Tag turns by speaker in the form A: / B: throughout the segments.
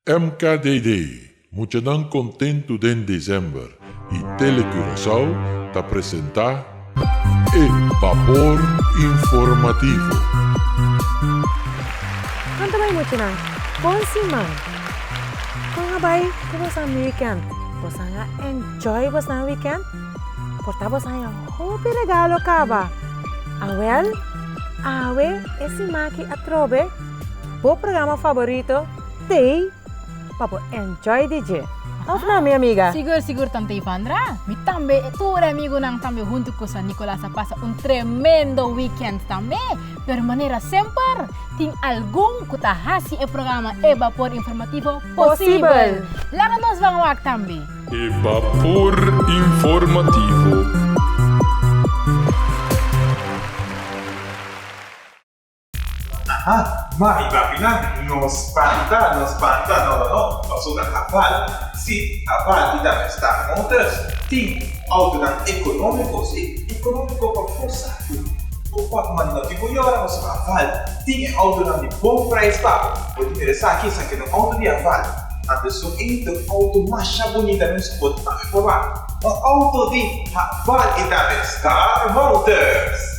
A: MKDD, Muchanan kontentu den December y Tele Curaçao ta presenta e Vapor Informativo.
B: Con ta bai muchanan? Con si man! Con a bai cu bosan mi weekend? Bosan a enjoy bosan weekend? Porta bosan e hopi regalo caba? Awel, awe e sima aki atrobe, Bo programa favorito Tei pa bo enjoy di dje, of nan mi amiga? Sigur sigur tan Tei Pandra.
C: Mi tambe e tur e amigunan tambe huntu cu San Nicolas a pasa un tremendo weekend tambe. Pero manera semper tin algun cu ta haci e programa E Bapor Informativo posibel. Laga nos ban wak tambe. E Bapor
A: Informativo.
D: Aha, mari papinan, no spanta, no spanta, no, no, no, paso na Habal, si, Habal y tambe Star Motors tin autonan economico, si, economico pa forsa cu bo por manda no tin bo yora, paso Habal tin e autonan di bon prijs pago. Bo tin interesaki esaki no auto di Habal, a besun e ta un auto masha bunita nos a por tambe proba, un auto di Habal y tambe Star Motors.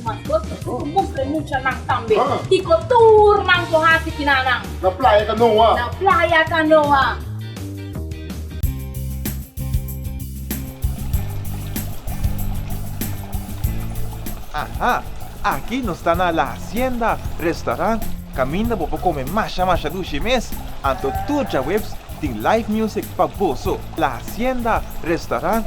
E: Mas kos ta tur mustra e mucha nan tambe. Kiko tur
F: nan por hasi
E: kina
D: nan. Na playa kanoa. Na playa kanoa. Aha! Aki nos ta na La Hacienda Restaurant kaminda bo por kome masha masha dushi mes. Anto tur djaweps tin live music pa boso. La Hacienda Restaurant.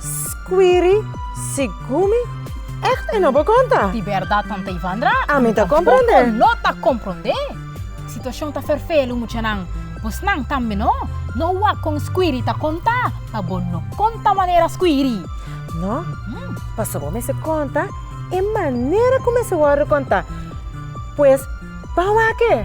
B: Squiri, Sigun mi, echt e no por konta. Di bèrdat tanta
C: Ivandra? Ami ta komprondé.
B: Tampoco no ta komprondé.
C: Situashon ta ferfelu muchanan. Bosnan tambe no. No hua kon Squiri ta konta, pa bo no konta manera Squiri. No,
B: paso bo mester konta e manera ku mester wòrdu konta. Pues, pa wak e.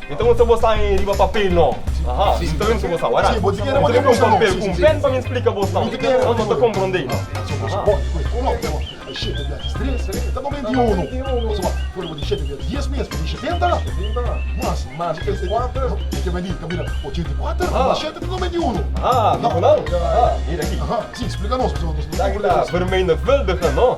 G: Mi ta usa bosa aña riba papel no? Mi ta usa bosa warat. Mi ta usa un papel
F: ku un
G: pen
F: pa mi
G: splika
F: bosa
G: no. Bo no ta komprondé no.
F: Mira aki.
G: Bermei na vèldiga no?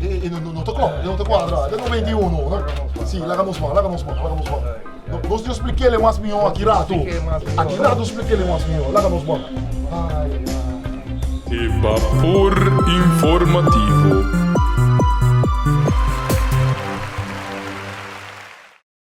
F: E, e no, no, no ta con, e no ta cuadra. De 91, no? Sí, laga nos man, laga nos man, laga nos man. No, nos yo expliquele mas mio aquí rato. Aquí rato expliquele mas mio, laga nos man. Ay, ay. E
A: Vapor Informativo.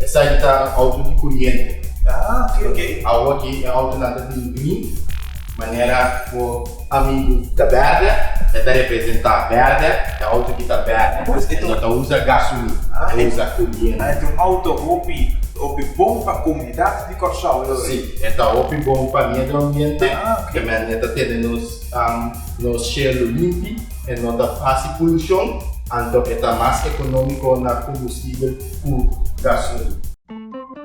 D: Esaki ta
H: auto di curiente. Ah ok ok.
D: Awo aki e
H: autonan ta bini bini manera bo amigu ta berde e ta representa berde e auto aki ta berde Pues e e no ta usa gasolina Ah, e e- usa curiente. Ah, e ta un auto hopi
D: hopi bon pa comunidad di Corsou lo Si, e ta hopi
H: bon pa miedra ambiente Ah, ok. te men e ta tene nos am nos shelu limpi e no ta haci polucion anto e ta mas economico na combustible. cu gasolina.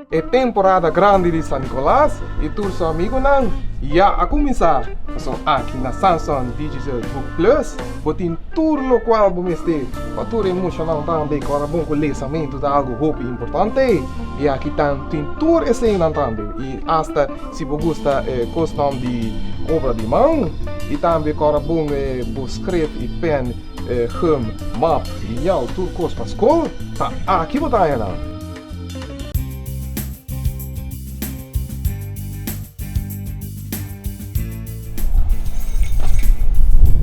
H: E
I: temporada grandi di San Nicolas y tur su amigunan ya a cuminsa. Pasobra aki na Samsung Digital Book Plus bo tin tur locual bo mester pa tur e mushanan tambe cu a rabon cu lesamento ta algo hopi importante. Y aki ta tin tur eseinan tambe y hasta si bo gusta e cosnan di obra di man y tambe cu a rabon bo scref y pen. Gum, map, liñal, tur kos pa skol ta aki bo ta haña nan.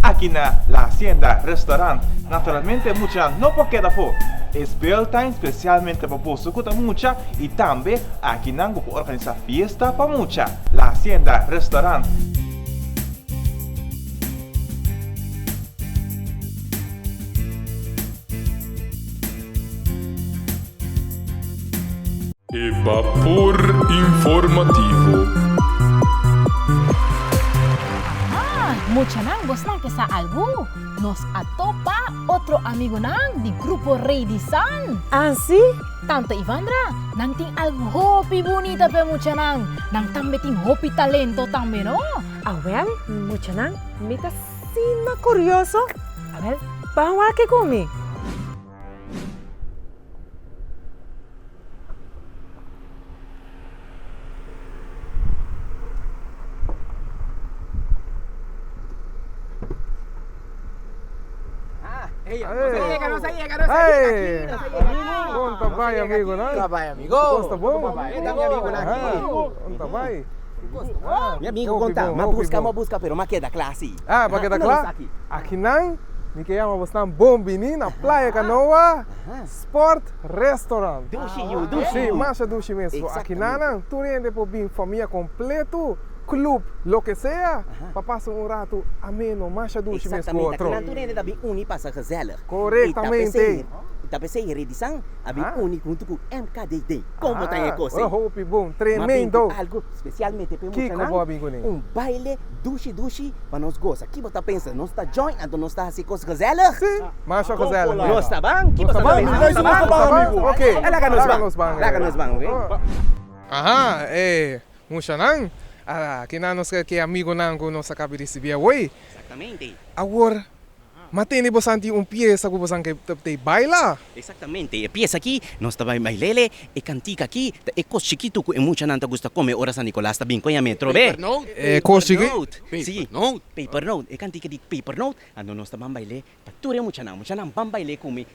D: Aki na La Hacienda Restaurant naturalmente mucha no por keda afó. E spel ta espesialmente pa boso ku ta mucha i tambe aki nan bo por organisá fiesta pa mucha. La Hacienda Restaurant.
A: E Vapor Informativo.
C: Aha! Muchanan, bo sna ke sa algu? Nos a topa otro amigunan di Grupo Rey di San. Así?
B: Tante Ivandra,
C: nan tin algu hopi bunita p'e muchanan. Nan tambe tin hopi talento tambe, no? Awel,
B: Muchanan, mi ta sima curioso. Awel, Ban wak-e cu mi.
I: Mi
J: amigo konta, m'a buska, m'a buska, pero m'a keda kla si. Ah, m'a keda kla?
I: Aki nan, mi ke yama bosnan bon bini na Playa Canoa Sport Restaurant. Dushi yu, dushi
J: yu. Sí, masha dushi
I: mesmo. Aki nan nan, tur hende por bin, famia kompletu, klup, loke sea, pa pasa un ratu ameno, masha dushi mesmo. Exactamente, aki nan tur hende ta bin
J: uni, pasa gezellig. Korektamente.
I: I ta p'esei e
J: redisan a bin uni huntu ku MKD den Komo ta e kos ei? Ma
I: bin ku algu spesialmente
J: p'e muchanan, un
I: baile
J: dushi dushi pa nos gosa. Ki bo ta pensa? Nos ta join anto nos ta hasi kos gezèlig? Nos ta ban? Ki bo
I: ta pensa? Nos ta ban? Ok,
J: laga nos
I: ban.
J: Laga nos ban, oke? Aha,
I: e muchanan, a kinan nos ke amigonan ku nos a kabe risibí awor? Awor. Ma tende bo santi un piesa ku bosan ke ta tei baila? Exactamente, e piesa
K: aki nos ta bai bailele, e cantica aki ta e cos chikitu ku e muchanan ta gusta come ora San Nicolas ta bin koe ame trobe. E cos chiki? Papernote, si, e cantica di Papernote, ando nos ta ban baile pa tur e muchanan, muchanan ban baile ku mi.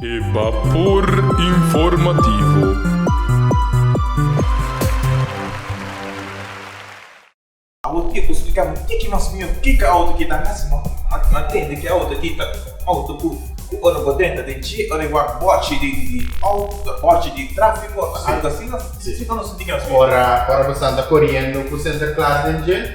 A: E Bapor Informativo.
D: Awo tiempo splica mi tiki mas miu kica auto ki ta haci no a tende ki auto aki ta auto cu cu ora bo denta den ci ora e wak bochi di di auto bochi di trafico ota algo asina si bo no sinti ki nos miu ora ora bo santa
H: coriendo cu center claro den dje.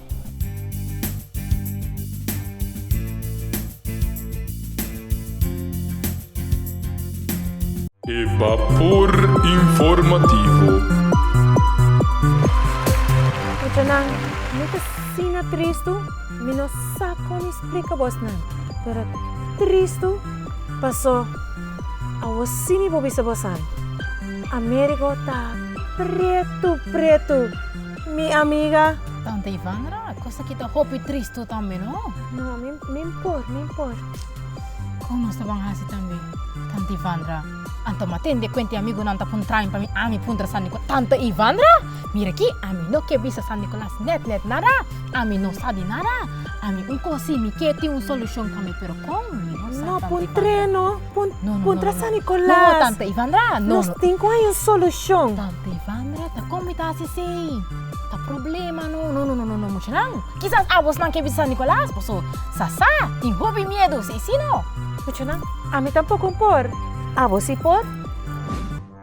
A: E Vapor Informativo.
B: Puchanan, mi ta asina tristu, mi no sa con explica bos nan, pero tristu paso awosi mi por bisa bos an, Amerigo ta pretu pretu. Mi amiga. Tanta Ivandra,
C: cos aki ta hopi trist tu tambe no. No, mi, mi
B: por, mi por.
C: Con nos ta ban haci tambe? Tanta Ivandra, Anto ma tende cuen tin amigunan ta pun train pa mi ami puntra San Nico, Tanta Ivandra, mira aki, ami no ke bisa San Nicolas net net nada, ami no sa di nada, ami un cosi mi ke tin un solucion pa mi pero con? Mi no sa, Tanta Ivandra. No pun
B: train no. Puntra San Nicolas. No, no, no. No, no, no. Tanta Ivandra,
C: no, no. Nos tin cu hay un
B: solucion. Tanta Ivandra,
C: ta con mi ta haci si? Ta problema, no. No, no, no, no, no, muchanan. Kisas abosnan ke bisita San Nicolas, paso sasa tin hopi miedu, si i si no? Muchanan,
B: ami tampoco N por. Abo si por?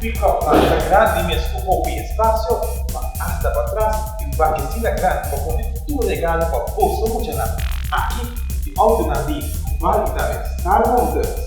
J: Pick up
D: line ta grandi mes cu hopi espacio, pa asta pa tras, y un bakecina grandi pa pone tur regalo pa boso muchanan. Aki e autonan di Cubal y tambe Star Motors.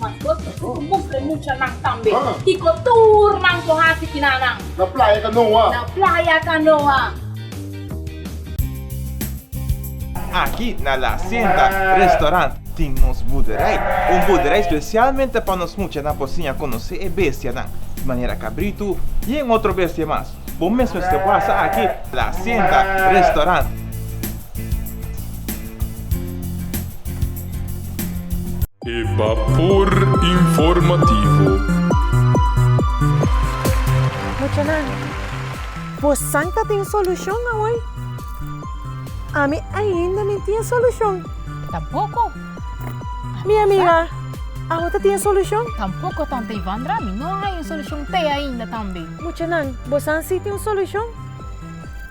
E: Mas bos ta kiko mustra e mucha nan tambe kiko
F: tur nan por hasi kina
L: nan. Na playa kanoa. Na playa kanoa. Aki na La Hacienda Restaurant tin nos buderij. Un buderij specialmente pa nos mucha nan por siña conoce e bestia nan, di manera cabrito y en otro bestia mas. Bo mesmo este pasa aki na La Hacienda Restaurant.
A: E Bapor Informativo.
B: Muchanan, bo san ta tin solucion awoy? Ami ainda mi tin e solucion. Tampoco. Mi amiga, awo ta tin e solucion? Tampoco, tanta
C: Ivandra. Mi no a haya un solucion te ainda tambe. Muchanan, bo san
B: si tin un solucion?